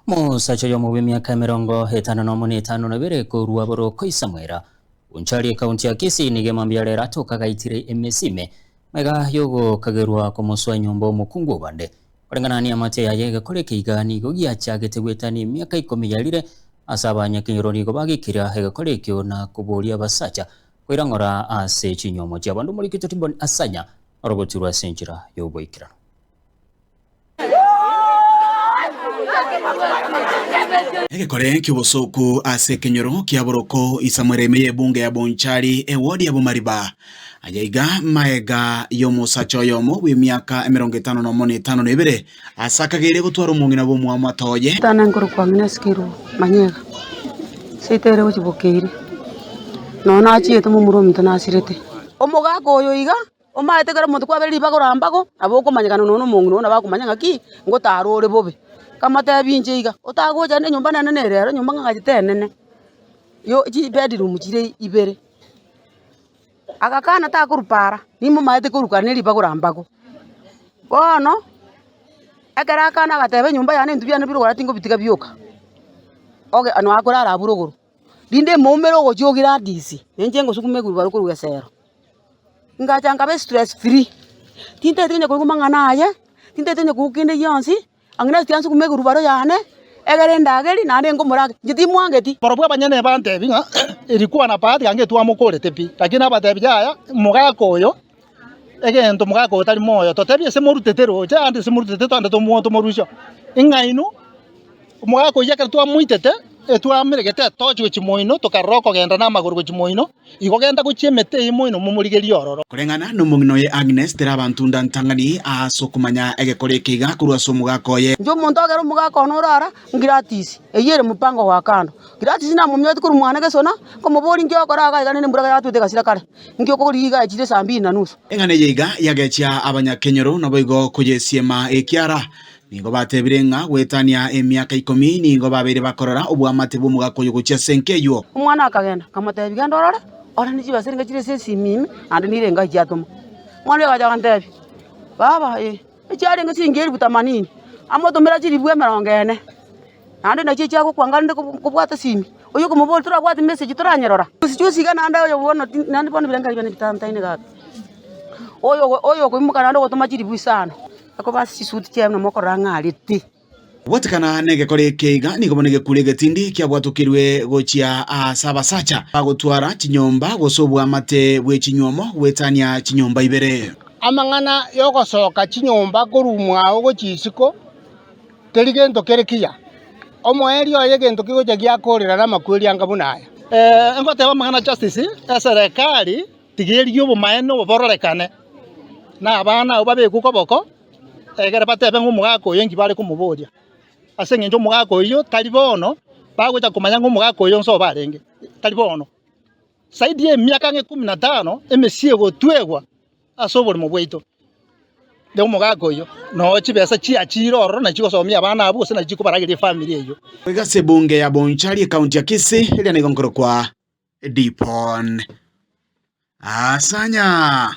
Mosacha oyomo bw'emiaka emerongo etano na omo na etano na ebere korwa boroko Isamuela, Bonchari ekaunti ya Kisii, nigo emambia yare eratoka agaitire emesi ime maiga y'ogokagerwa kw'omosu wa nyomba omokungu obande. Koreng'ana neamate yaye egekora eke iga nigo giachagete gwetania emiaka ikomi yarire ase abanyakenyoro nigo bagikira egekora ekio na koboria abasacha koirang'ora ase chinyomo chiabanto omorikito Timboni Asanya orogoturwa ase enchera y'oboikeranu. Egekore ki'obosooku ase ekenyoro kia boroko isamwera ime y'ebunga ya Bonchari, ewodi ya Bomariba. Aya iga magega y'omosacha oyomo bw'emiaka emerongo etano nomo na etano na ebere, aase akageire gotwara omong'ina bw'omwamwato oye. Etano enkoro kwang'ina esikirwe manyega, seito ere gochibokeire, nonya nachiete momura ominto nasirete. Omogaka oyo iga Omanyete ekero omonto kwabeire ribago ra mbago, nabo okomanyekana nonya na omong'ina oo nabo akomanya ng'aki, ngotara ore bobe. Nkamoteebia inche iga, otagocha aende enyomba nane nere ero, enyomba ng'ang'achete enene, yo chibedroom chire ibere. Agakana takoruka ara, nimomanyete koruka ara neribago ra mbago. Bono, ekero akana agateeba enyomba yane intwe biane bire oko ara tingobitiga bioka, obe nonya korara abwo ore igoro. rinde emoumere ogochia o Gladys, na inche ngosukuma ewheelbarrow korwa esero. Ngacha nkaba estress free, tintaete konya korigwa amang'ana aye, tintaete konya korigwa kende gionsi, ang'e nasi tiga nsukuma ewheelbarrow yane, egere ndageri, naende ninka omoraka, inche timwangeti. Barabwo abanyene bantebi ng'a, Erikwana papa tiga ngetwamokorete pi, lakini nabatebi, Yaya, omogaka oyo. egento omogaka oyo tari moyo, totebi ase morutete roche ande ase morutete twande tomo tomorusia oo, ing'aini omogaka oyio ekero twamoitete, etwamire gete etochi gochia moino tokarora okogenda na amagoro gochia moino, igo genta gochia emete eye moino momorigerie ororo. Koreng'ana nomong'ina oye Agnes tera abanto nda ntang'ani aase okomanya egekora eke iga korwa ase omogaka oye. Inche omonto agere omogaka one ore ara, Gladys, eyio ere mopango gwa kando. Gladys namominyoretie korwa mwane gesona, nkomoboria inki ogokora iga, aiganire embura iga yatwete egasira kare. Inki okogorire iga achire saa mbiri na nusu? Eng'ana eye iga yagechia abanyakenyoro naboigo koyesiema ekiara. Nigo batebire ng'a goetania emiaka ikomi nigo babeire bakorora obwamate bw'omogaka oyo gochia ase enka eywo. Omwana akagenda, akamotebia, Genda orore, ore ne chibesa niga chire ase esimimi, naende nire engae chiatomwa. Omwana oria agacha akamotebia, Baba, ee, echiarenge chiingi elifu tamanini, amotomera chilifu emerongo ene. Naende inachio echiagokwanga rende kobwata simi. Oyio okomoboria torabwate message toranyerora. Chionsi chionsi iga naende oyo bono ti naende bono birengererio biane bitantaine iga iga. Oyo ogo oyo okoimoka naende ogotoma chiribu sana, akoba ase chisuit chiaye buna mokorora ang'arete. Gwatekana negekore eke iga nigo bono egekure egetindi kiabwatokirwe gochia aase abasacha bagotwara chinyomba gose obwamate bwe chinywomo gwetania chinyomba ibere. Amang'ana y'ogosoka chinyomba korumwa ao gochia isiko. Teri gento kere kiya. Omoerio oye egento kigocha giakoorera namakweri anga buna aya. Ngoteba amang'ana justice, eserekari tigeria obomaene obo bororekane, na abana abwo babekwe koboko, egere batebe ng'a omogaka oyo enki bare komoboria, ase eng'encho omogaka oyio tari bono, bagocha komanya ng'a omogaka oyo onsi obo arenge, tari bono. Zaidi ya emiaka ng'a ikomi na tano emesie egotwegwa. Ase oborimo bwaito na omogaka oyio nao chibesa chiachiire ororo na chigosomia abana abwo gose na chikobarageria efamiri eyio. Boigo ase ebunge ya Bonchari ekaunti ya Kisii eria nigo nkorokwa Dipon Asanya.